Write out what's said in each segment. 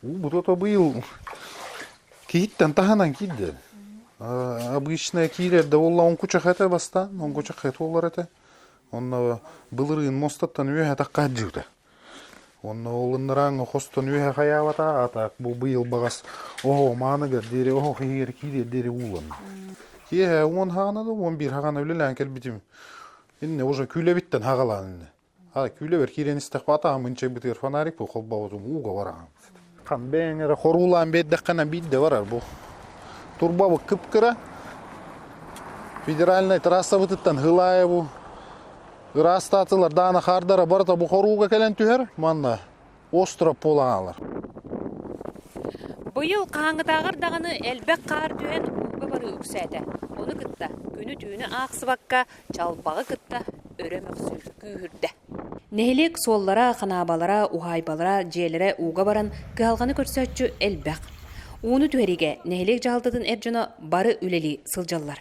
Уу бутото быйыл киһиттэн таһынан киирдэ. Э, обычная киирэр да буолла оҥкучах этэ бастаан оҥкучах эт буолар этэ онно былырыын мостаттан үөһэ тахха хаадьыыта онно олуннарааҥҥа хостон үөһэ хайаабата атаак бу быйыл баҕас оһо мааныгар диэри оһо хиһигэр киириэр диэри ууланна киэһэ уон хаана да уон биир хаана үлэлээн кэлбитим иннэ уже күүлэбиттэн хагалаан иннэ Күүлэбэр киирэн истэхпэ атаһым ынчайбытыгар фонарик бу холбообутум ууга бараҕаммыт. Хам бэйэҥ эрэ хоруулаан биэрдэххинэ биирдэ барар бу. Турбабыт кып-кыра. Федеральнай трассабытыттан хылаайа бу ыраастаатылар даана хаардара барыта бу хорууга кэлэн түһэр. Манна остропол аналар Быйыл хаһааҥҥытааҕар даҕаны элбэх хаар түһэн ууга барыы үксээтэ. Ону кытта күнү-түүнү аахсыбакка чалбаҕы кытта өрө мөхсүү күүһүрдэ. Нэһилиэк суоллара, ханаабалара, уһаайбалара, дьиэлэрэ ууга баран кыһалҕаны көрсөөччү элбэх. Ууну түһэриигэ нэһилиэк дьаһалтатын эр дьоно бары үлэлии сылдьаллар.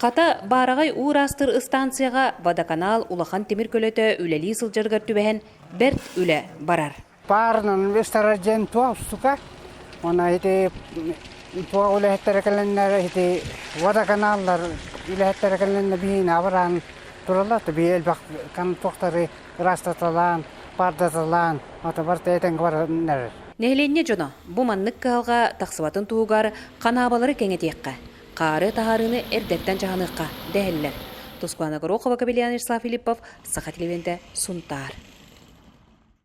Хата, баараҕай уу-ыраастыр ыстаансыйаҕа Водоканал улахан тимир көлөтө үлэлии сылдьарыгар түбэһэн бэрт үлэ барар. Паарынан инвесторар диэн туох устука, онно ити туох үлэһиттэрэ кэлэннэр, ити водоканаллар үлэһиттэрэ кэлэннэр биһиини абыраан тураллар, бии элбэх туохтары ыраастаталаан, пардаталаан, отобор тэтэнгэ бараннар. Нэһилиэнньэ дьоно бу маннык кыһалҕа тахсыбатын туһугар ханаабалары кэҥэтиэххэ, Хаары таһаарыыны эрдэттэн дьаһаныахха, дэһэллэр. Тускулана Горохова, Кобельян Вячеслав Филиппов, Саха телевидения, Сунтаар.